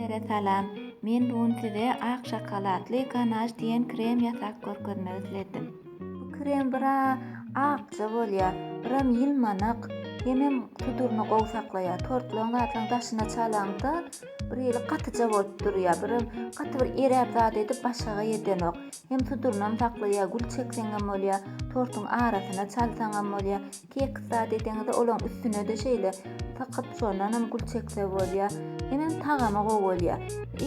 Hemmelere salam. Men bu gün size ak şokoladly ganaş diýen krem ýasap görkezmek isledim. Bu krem biraz akja bolýar, biram ýylmanak, hemem tuduryny gowy saklaýar. Tortlaryň zatlaryň daşyna çalaňda birhili gatyja bolup durýar, biram gaty bir eräp zat edip başaga edenok. Hem tudurynam saklaýar, gül çekseňem bolýar, tortuň arasyna çalsaňam bolýar. Tekst zat edeňizde olaň üstünede şeýle sykyp şondanam gül çekse bolýa. Hemem tagamy gowy bolýa.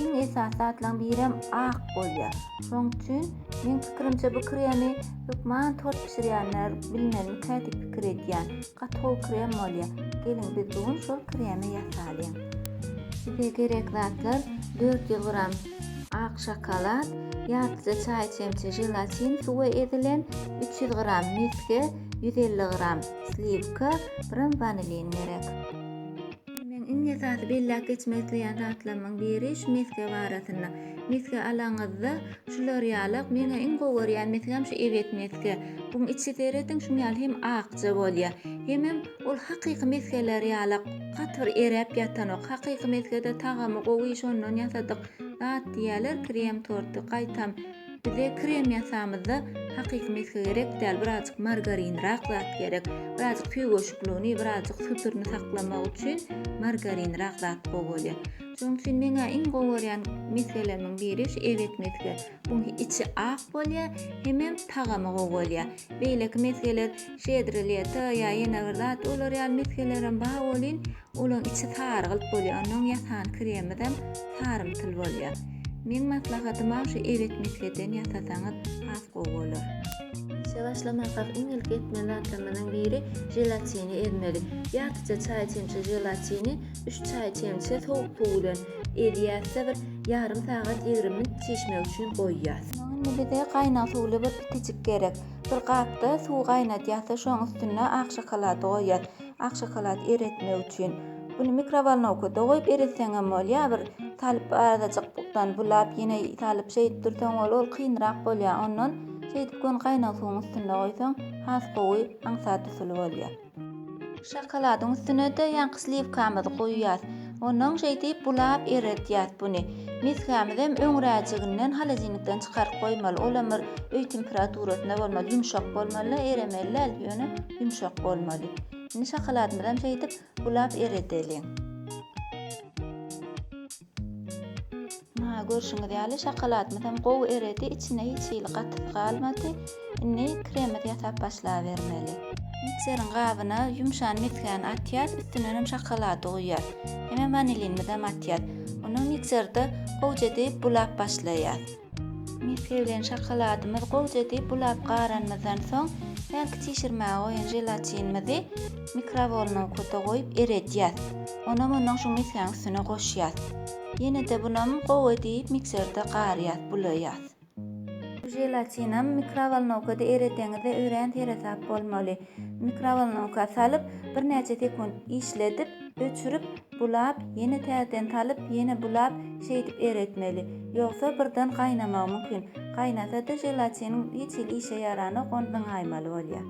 Iň esasy zatlaň birem ak bolýa. Şoň üçin meň pikirimçe bu kremi hökman tort bişirýänler bilmelikä diýip pikir edýän. Gaty gowy krem bolýa. Geliň biz bu gün şol kremi ýasalyň. Bize gerek zatlar dört ýüz gram ak şokolad, ýartyja çaý çemçe želatin suwa ezilen, üç ýüz gram misge, ýüz elli gram sliwka, gram wanilin gerek. Indi meň iň esasy belläp geçmek isleýän zatlarymyň biri şu mesge barasynda. Mesge alaňyzda şular ýalak, meň iň gowy görýän mesgem şu ebet mesge. Buň içi serediň şuň ýaly hem akja bolýar. Hemem ol hakyky mesgeler ýalak gaty bir eräp ýatanok. Hakyky mesgede tagamy gowy şondan ýasadyk zat diýýärler krem torty gaýtam. Bize krem ýasamyzda hakyky mesge gerek däl, birazjyk margarinrak zat gerek. Birazjyk tüýgeşikligini, birazjyk sütürini saklamak üçin margarinrak zat gowy bolýar. Şonuň üçin meň-ä iň gowy görýän mesgelerimiň biri şu eget mesge. Buň içi ak bolýar, hemem tagamy gowy bolýar. Beýleki mesgeler şedre leto ýa ýene bir zat olar ýaly mesgelerem bar welin, Olaň içi sarygylt bolýar, onuň ýasan kremidem sarymtyl bolýar. Meň maslahatyma şu ebet misleden ýasasaňyz has gowy bolar. Işe başlamakak iň ilki etmeli zatlarymyzyň biri jelatini ezmeli. Ýartyja çaý çemçe jelatini üç çaý çemçe sowuk suw bilen ezýäs-de bir ýarym sagat ýigrimi minut çişmek üçin goýýas. Indi bize gaýnag suwly bir pitijik gerek. Bir gapda suw gaýnadýas-da şoň üstüne ak şokolady goýýas. Ak şokolad eretmek üçin Bunu mikrowolnowkada goýup eretseňem bolýar. Bir salyp azajyk bukdan bulap ýene salyp şeýdip dursaň ol ol kynrak bolýar. Ondan şeýdip göni gaýnag suwuň üstünde goýsaň has gowy aňsat usuly bolýar. Şokoladyň üstünede ýaňky sliwkamyzy goýýas. Onnoň şeýdip bulap eredýäs buny. Misgämizem öňräjiginden holodilnikden çykaryp goýmaly, olam bir öý temperaturasyna bolmaly, ýumşak bolmaly-da, eremeli däl, ýöne ýumşak bolmaly. Indi şokoladymyzam şeýdip bulap eredeliň. Munha görşüňiz ýaly şokoladymyz hem gowy eredi, içinde hiç hili gatysy galmady. Indi kremimizi ýasap başlabermeli. Mikseriň gabyna ýumşan mesgäni atýas, üstünden hem şokolady guýýas. Hemem wanilinimizi hem atýas. Ony mikserde gowja diýip bulap başlaýas. Mesge bilen şokoladymyz gowja diýip bulap garanymyzdan soň hälki çişirmäge goýan želatinimizi mikrowolnowkada goýup eredýas. Onam ondan şu mesgäň üstüne goşýas. Ýene-de bunam gowy edip mikserde garyas, bulaýas. Želatinam mikrowolnowkada eredeňizde örän seresap bolmaly. Mikrowolnowka salyp, birnäçe sekunt işledip, öçürip, bulap, ýene täzeden salyp, ýene bulap, şeýdip eretmeli. Ýogsa birden gaýnamagy mümkin. Gaýnasa-da, želatiniň hiç hili işe ýaranok, ony zyňaýmaly bolýar.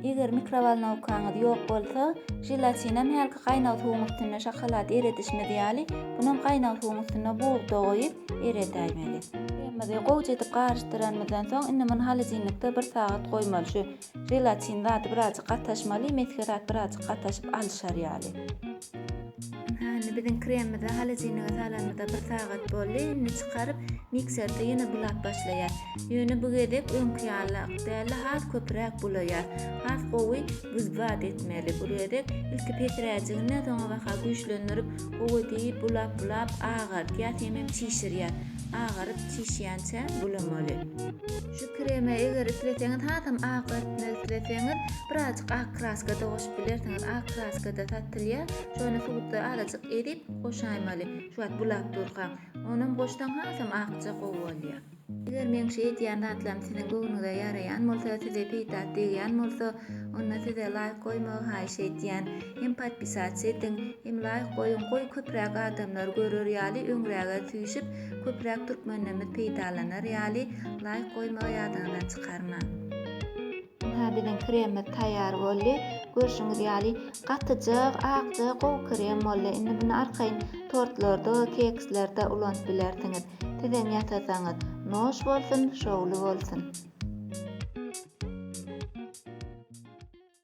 Eger mikrowolnowkaňyz ýok bolsa, želatinam hälki gaýnag suwuň üstünde şokolad eredişimiz ýaly, bunam gaýnag suwuň üstünde bugda goýup eredäýmeli. Kremimizi gowja edip garyşdyranymyzdan soň, indi muny holodilnikde bir sagat goýmaly. Şu želatin zady birazjyk gataşmaly, mesge zat birazjyk gataşyp alyşar ýaly. Hä, indi biziň kremimizi holodilnige salanymyza bir sagat boldy. Indi çykaryp, mikserde ýene bulap başlaýar. Ýöne bu gezek öňki ýaly däl-de, has köpräk bulaýar. Has gowy buz bad etmeli. Bu gezek ilki pesiräjiginden soňa baha güýçlendirip, gowy diýip bulap-bulap agartýar, hemem çişirýär. Agaryp, çişýänçä bulamaly. Şu kreme eger isleseňiz hasam ak görünmek isleseňiz birazjyk ak kraskada goşup bilersiňiz ak kraskada satylýar şony suwda azajyk erip goşaýmaly şu wagt bulap durkaň onam goşsaň hasam akja gowy bolýar. Eger meň şu edýän zatlarym siziň göwnüňize ýaraýan bolsa size peýdaly degýän bolsa onda size laýk goýmagy haýyş edýän hem podpisats ediň hem laýk goýuň goý köpräk adamlar görer ýaly öňräge süýşip köpräk türkmenlerimiz peýdalanar ýaly laýk goýmagy ýadyňyzdan çykarmaň. Ynha biziň kremimiz taýýar boldy. Görşüňiz ýaly gatyjak, akja gowy krem boldy. Indi muny arkaýyn tortlarda, kekslerde ulanyp bilersiňiz. Sizem ýasasaňyz, noş bolsun, şowly bolsun!